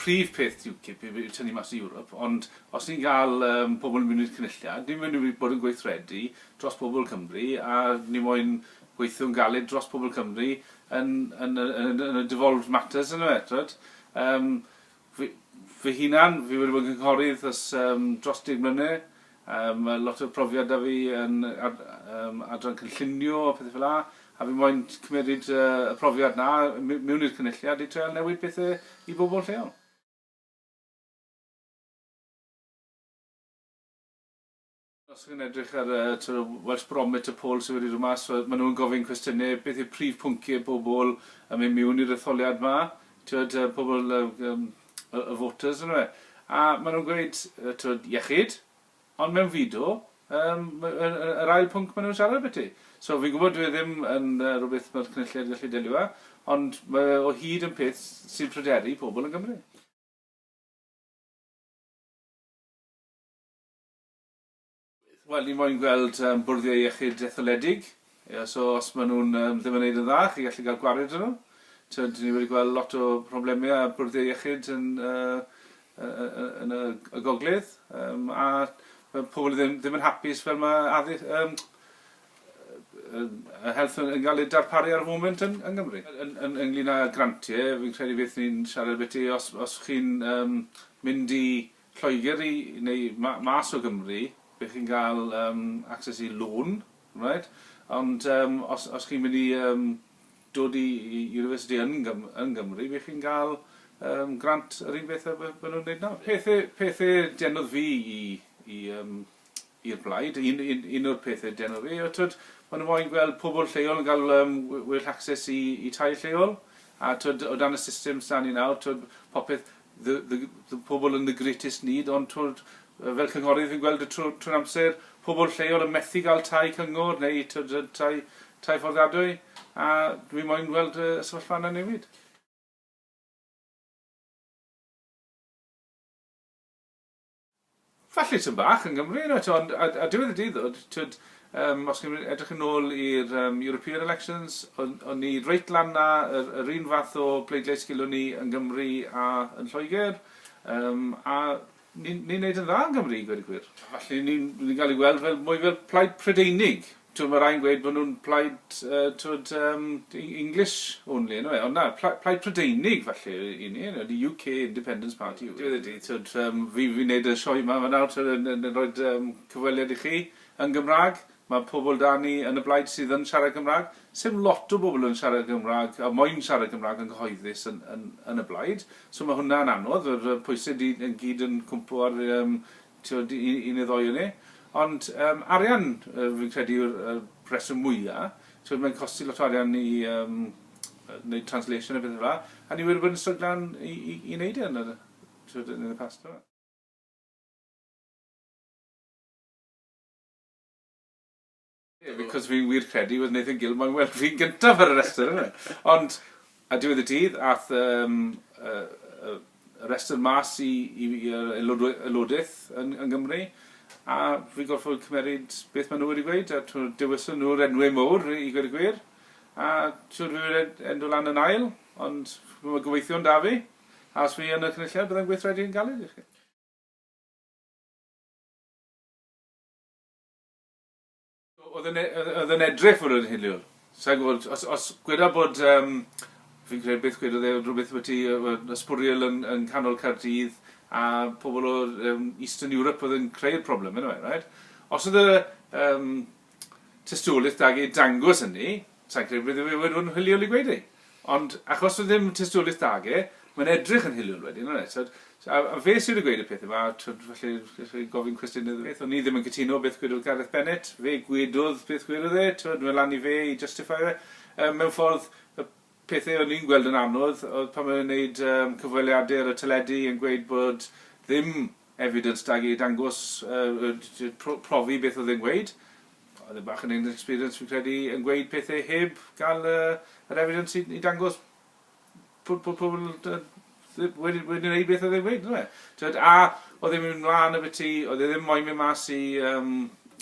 prif peth UKIP yw tynnu mas i Ewrop, ond os ni'n cael um, pobl yn mynd i'r cynulliad, ni'n mynd i bod yn gweithredu dros pobl Cymru a ni moyn gweithio'n galed dros pobl Cymru yn, yn, yn, yn, yn y devolved matters yn y metrod. Um, Fy fy hunan, fi wedi bod yn cynghorydd ers yym dros deg mlyne. Yym ma' lot o profiad 'da fi yn ad- yym adran cynllunio a pethe fela, a fi moyn t- cymeryd yy y profiad 'na my- miwn i'r cynulliad i treial newid pethe i bobol lleol. Os chi'n edrych ar y sort of Welsh Barometer poll sy wedi dod mas, wel ma' nhw'n gofyn cwestiyne, beth yw'r prif pwyncie pobl yn mynd miwn i'r etholiad 'ma? T'wod yy pobl yy yym y y voters on'd yw e? A ma' nhw'n gweud yy t'wod iechyd, ond mewnfudo yym ma' yy yy yr ail pwnc ma' nhw'n siarad ambyti. So fi'n gwbod dyw e ddim yn yy rwbeth ma'r Cynulliad gallu delio â, ond ma' e o hyd yn peth s- sy'n pryderu pobl yn Gymru. Wel, ni moyn gweld bwrddiau iechyd etholedig. So, os maen nhw ddim yn wneud yn dda, chi'n gallu cael gwared â nhw. Tibod, ni wedi gweld lot o problemau â bwrddiau iechyd yn y gogledd. A mae pobl ddim yn hapus fel mae health yn cael ei darparu ar y foment yn Nghymru. Ynglŷn â grantiau, fi'n credu beth ni'n siarad ambiti, os chi'n mynd i Lloegr i neu ma- mas o Gymru be' chi'n ga'l yym access i loan reit ond yym os os chi'n mynd i yym dod i i university yn Gym- yn Gymru be' chi'n ga'l yym grant yr un beth a be' be' nw'n neud nawr. Pethe pethe denodd fi i i yym i'r blaid. Un, un, un o'r pethau den o fi, twyd, maen nhw'n moyn gweld pobl lleol yn cael um, well access i, i tai lleol. A twyd, o dan y system sy'n ni nawr, twyd, popeth, the, the, the pobl yn the greatest need, ond twyd, fel cynghorydd fi'n gweld y trwy'n trwy amser pobl lleol yn methu gael tai cyngor neu twyd, tai, tai fforddiadwy. A dwi'n moyn gweld y sefyllfa yna newid. Falle tym bach yn Gymru reit ond ar ar diwedd y dydd ddod t'wod yym os chi'n edrych yn ôl i'r yym European elections o'n o'n ni reit lan 'na yr yr un fath o pleidlais gilwn ni yn Gymru a yn Lloegr yym a ni'n ni'n neud yn dda yn Gymru i gweud y gwir. Falle ni'n ni'n ga'l ei weld fel mwy fel plaid Prydeinig. T'wod ma' rai'n gweud bo' nw'n plaid yy t'wod yym Eng- English only on'd yw e? Ond na, pla- plaid Prydeinig falle yy 'yn ni, yy the UK Independence Party yw e. Diwedd y dydd t'wod yym fi fi'n neud y sioe 'ma nawr t'wod yn yn yn roid yym cyfweliad i chi yn Gymra'g, ma' pobol 'da ni yn y blaid sydd yn siarad Cymra'g, sim lot o bobol yn siarad Gymra'g a moyn siarad Cymra'g yn gyhoeddus yn yn yn y blaid, so ma' hwnna'n anodd, yr y pwyse 'di yn gyd yn cwmpo ar yym t'wod, i i ni ddoi o ni. Ond yym arian yy fi'n credu yw'r y rheswm mwya'. T'wod mae'n costi lot o arian i yym yy neud translation a pethe fela, a ni wedi bod yn stryglan i i i neud e yn yr t'wod yn y past fel 'a. Ie, because fi'n wir credu wedd Nathan Gill moyn weld fi'n gyntaf ar y restr yfe? Ond, a diwedd y dydd, ath yym y y y restr mas i i fi yy aelodwy- aelodydd yn yng Nghymru, a fi'n gorffod cymeryd beth ma' nhw wedi gweud, a t'mod dewiso nhw'r enwe mowr i i gweud y gwir, a siŵr fi wed endo lan yn ail, ond ch'mo' ma' gobeithion 'da fi, a os fi yn y cynulliad byddai'n gweithredu yn galed i chi. Oedd yn e- oedd oedd yn edrych fel yn hiliol. Sa i'n gwybod, os, os gweda bod, um, fi'n credu beth gwedodd e, rhywbeth byti uh, ysbwriel yn, yn canol Cardydd a pobl o um, Eastern Europe oedd yn creu'r problem, yn yw e, right? Os oedd y um, tystiolaeth da i dangos hynny, Sa i'n credu bod e wedi bod yn hiliol i gweud e. Ond achos doedd ddim tystiolaeth 'da ge, mae'n edrych yn hiliol wedyn, yn e? Tibod? A, a fe sydd wedi gweud y peth yma, tibod, felly, felly gofyn cwestiynau iddo beth. O'n i ddim yn cytuno beth gwedodd Gareth Bennett. Fe gwedodd beth gwedodd e, tibod, mae lan i fe i justify fe. Um, mewn ffordd, y pethau o'n i'n gweld yn anodd oedd pan mae'n gwneud um, cyfweliadau ar y teledu yn gweud bod ddim evidence da i dangos, uh, profi beth oedd e'n gweud. Oedd e bach yn inexperienced fi'n credu yn gweud pethau heb gael yr evidence i i dangos bod bod pobl wedi wedi wneud beth oedd e'n gweud yndyfe? T'wod a oedd e'n mynd mlan ambyti oedd e ddim moyn mynd mas i yym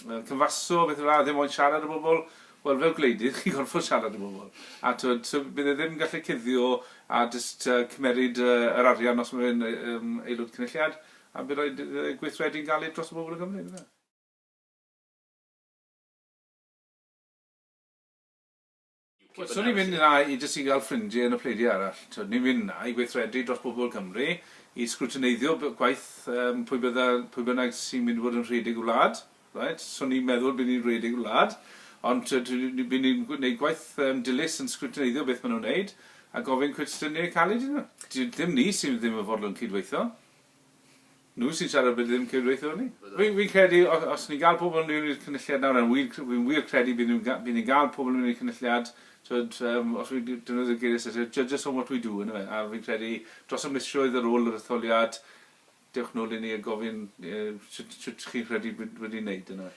yy cyfaso beth fel 'a ddim moyn siarad â bobl wel fel gwleidydd chi'n gorfod siarad â bobl a t'wod so bydd e ddim yn gallu cuddio a jyst yy cymeryd yy yr arian os ma' fe'n yy yym aelod cynulliad a by' raid iddo fe gweithredu'n galed dros y bobl yng Nghymru yndyfe? Wel, so ni'n mynd yna i jyst i gael ffrindie yn y pleidiau arall. T'od, ni'n mynd yna i weithredu dros bobl Cymru, i sgrwtineiddio b- gwaith yym pwy bydda- pwy bynnag sy'n mynd i fod yn rhedeg y wlad, reit? So ni'n meddwl bydd ni'n rhedeg y wlad, ond t'od, ni- ni- bydd ni'n gw- neud gwaith yym dilys yn sgrwtineiddio beth ma' nhw'n neud, a gofyn cwestiyne caled iddyn nhw. Dim ni sydd ddim yn fodlon cyd-weithio. Nhw sy'n siarad bydd ddim cydweithio â ni. Fi'n credu os ni'n gael pobl yn mynd i'r cynulliad nawr, a fi'n wir credu bydd ni'n gael pobl yn mynd i'r cynulliad, tw'od, os fi'n defnyddio'r geiriau Saesneg, judges on what we do, yndyfe? A fi'n credu dros y misoedd ar ôl yr etholiad, dewch nôl i ni a gofyn shwt chi'n credu bod wedi wneud, yndyfe?